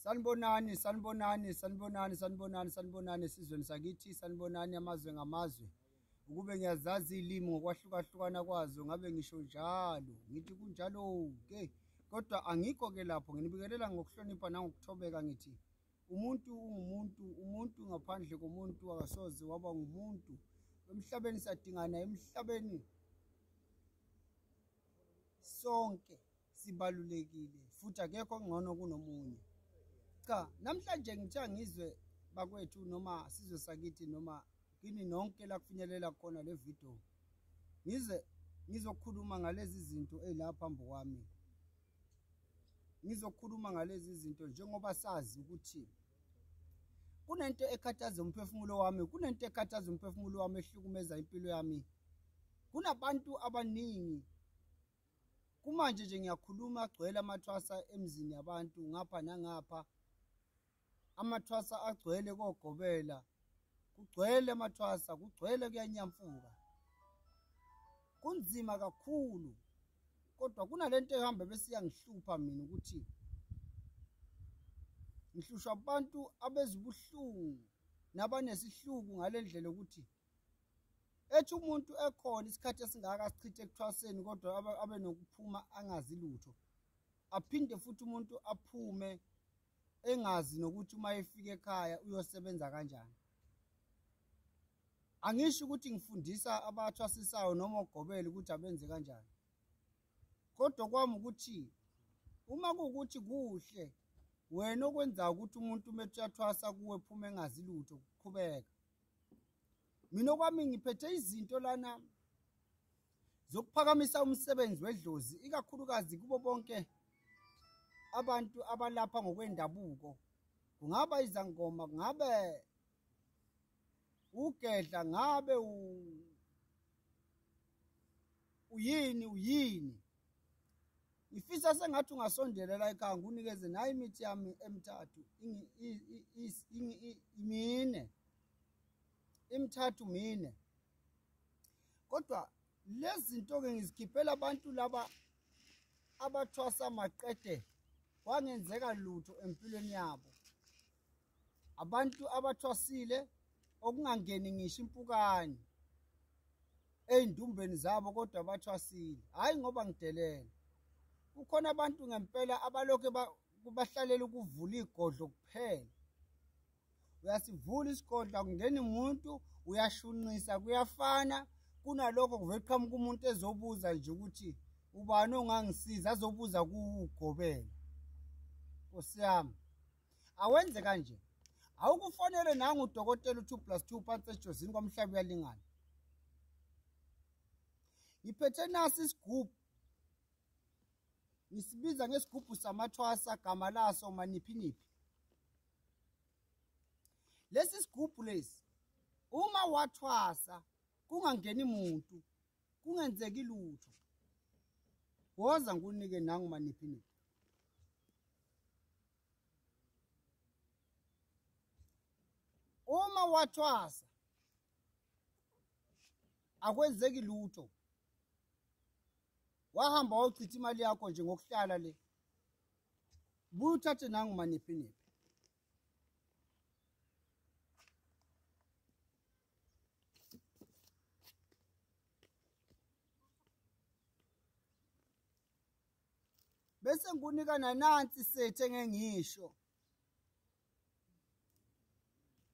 sanibonani sanibonani sanibonani sanibonani sanibonani esizweni sakithi sanibonani amazwe ngamazwe ukube ngiyazazi iy'limi ngokwahlukahlukana kwazo ngabe ngisho njalo ngithi kunjalo-ke kodwa angikho-ke lapho nginibikelela ngokuhlonipha nangokuthobeka ngithi umuntu ungumuntu umuntu ngaphandle komuntu akasoze waba ngumuntu emhlabeni sadingana emhlabeni sonke sibalulekile futhi akekho ongcono kunomunye cha namhlanje ngithiya ngizwe bakwethu noma sizwe sakithi noma kini nonke la kufinyelela khona le video ngize ngizokhuluma ngalezi zinto ezilapha phambi kwami ngizokhuluma ngalezi zinto njengoba sazi ukuthi kunento ekhathaza umphefumulo wami kunento ekhathaza umphefumulo wami ehlukumeza impilo yami kunabantu abaningi kumanje nje ngiyakhuluma agcwele amathwasa emzini yabantu ngapha nangapha amathwasa agcwele kogobela kugcwele amathwasa kugcwele kuyanyamfuka kunzima kakhulu kodwa kunalento ehamba bese yangihlupha mina ukuthi ngihlushwa abantu abezibuhlungu nabanesihluku ngalendlela ukuthi ethi umuntu ekhona isikhathi esingaka sichithe ekuthwaseni kodwa abe nokuphuma angazi lutho aphinde futhi umuntu aphume engazi nokuthi uma efika ekhaya uyosebenza kanjani angisho ukuthi ngifundisa abathwasisayo noma ogobele ukuthi abenze kanjani kodwa kwami ukuthi uma kuwukuthi kuhle wena okwenzayo ukuthi umuntu uma ethi uyathwasa kuwe phuma engazi lutho kuqhubeka mina okwami ngiphethe izinto lana zokuphakamisa umsebenzi wedlozi ikakhulukazi kubo bonke abantu abalapha ngokwendabuko kungaba izangoma kungabe ugedla ngabe uyini uyini ngifisa sengathi ungasondela la ekhaya ngunikeze nayo imithi yami emithathu mine imithathu mine kodwa lezi zinto-ke ngizikhiphela abantu laba abathwasa maqede kwangenzeka lutho empilweni yabo abantu abathwasile okungangeni ngisho impukane ezindumbeni zabo kodwa bathwasile hayi ngoba ngidelele kukhona abantu ngempela abaloke kubahlalela ukuvula igodlo kuphela uyasivula isigodlo akungeni umuntu uyashunqisa kuyafana kunalokho kuvele qhamuka umuntu ezobuza nje ukuthi ubani ongangisiza azobuza kuwugobela nkosi yami awenze kanje awukufonele nangu udokotela u-two plus two phansi ejozini kwamhlaba uyalingana ngiphethe nasi isigubhu ngisibiza ngesigubhu samathwasa gama laso maniphiniphi lesi sigubhu lesi uma wathwasa kungangeni muntu kungenzeki lutho woza ngikunike nangu maniphiniphi uma wathwasa akwenzeki lutho wahamba wawuchitha imali yakho nje ngokuhlala le buye uthathe nangu maniphi niphi bese ngikunika nanansi sethi engengisho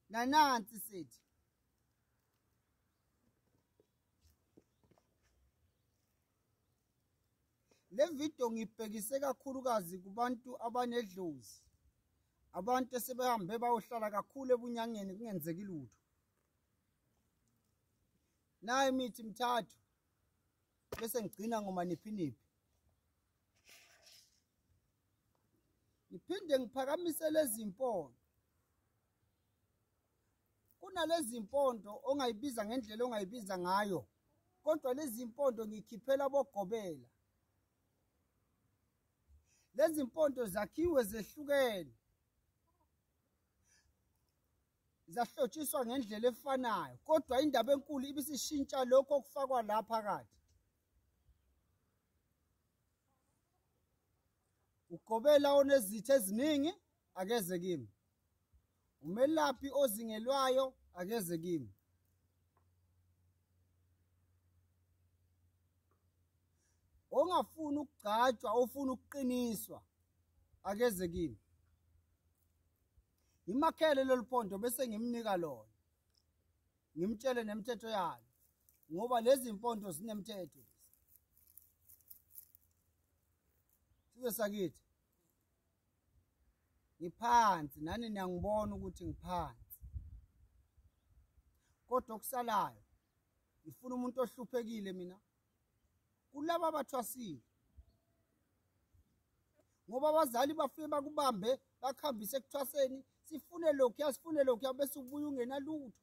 nanansi sethi le video ngibhekise kakhulukazi kubantu abanedlozi abantu esebehambe bayohlala kakhulu ebunyangeni kungenzeki lutho nayo imithi mithathu bese ngigcina ngomaniphiniphi ngiphinde ngiphakamise lezi mpondo kunalezi mpondo ongayibiza ngendlela ongayibiza ngayo kodwa lezi mpondo ngikhiphela bogobela lezi mpondo zakhiwe zehlukene zahlotshiswa ngendlela efanayo kodwa indaba enkulu ibisishintsha lokho okufakwa la phakathi ugobela onezitha eziningi akeze kimi umelaphi ozingelwayo akeze kimi ongafuni ukugcatshwa ofuna ukuqiniswa akeze kimi ngimakhele lolu pondo bese ngimnika lona ngimtshele nemithetho yalo ngoba lezi mpondo zinemithetho size sakithi ngiphansi nani niyangibona ukuthi ngiphansi kodwa okusalayo ngifuna umuntu ohluphekile mina kulaba bathwasile ngoba abazali bafike bakubambe bakuhambise ekuthwaseni sifune lokhuya sifune lokhuya bese ubuye ungenalutho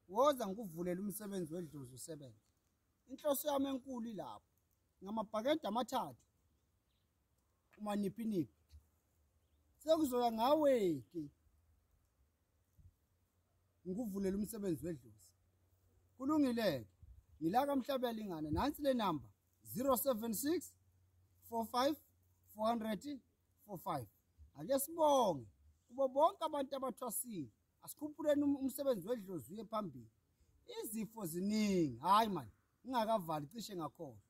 woza ngikuvulela umsebenzi wedlozi usebenze inhloso yami enkulu ilapho ngamabhakede amathathu umaniphiniphi sekuzoya ngawe-ke ngikuvulela umsebenzi wedlozi kulungile-ke ngila kamhlabela ingane nansi le namba 076 45 400 45 ake sibonge kubo bonke abantu abathwasile asikhuphuleni um-, umsebenzi wedlozi uye phambili izifo ziningi hhayi mani ngingakavali cishe ngakhohlwa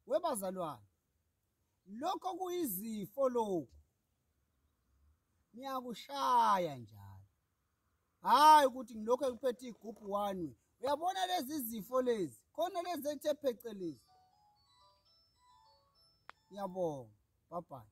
webazalwane lokho kuyizifo lokhu niyakushaya njalo hhayi ukuthi ngilokhu engiphethe igubhu one way uyabona lezi zifo lezi khona lezi ethe phecelezi ngiyabonga bye bye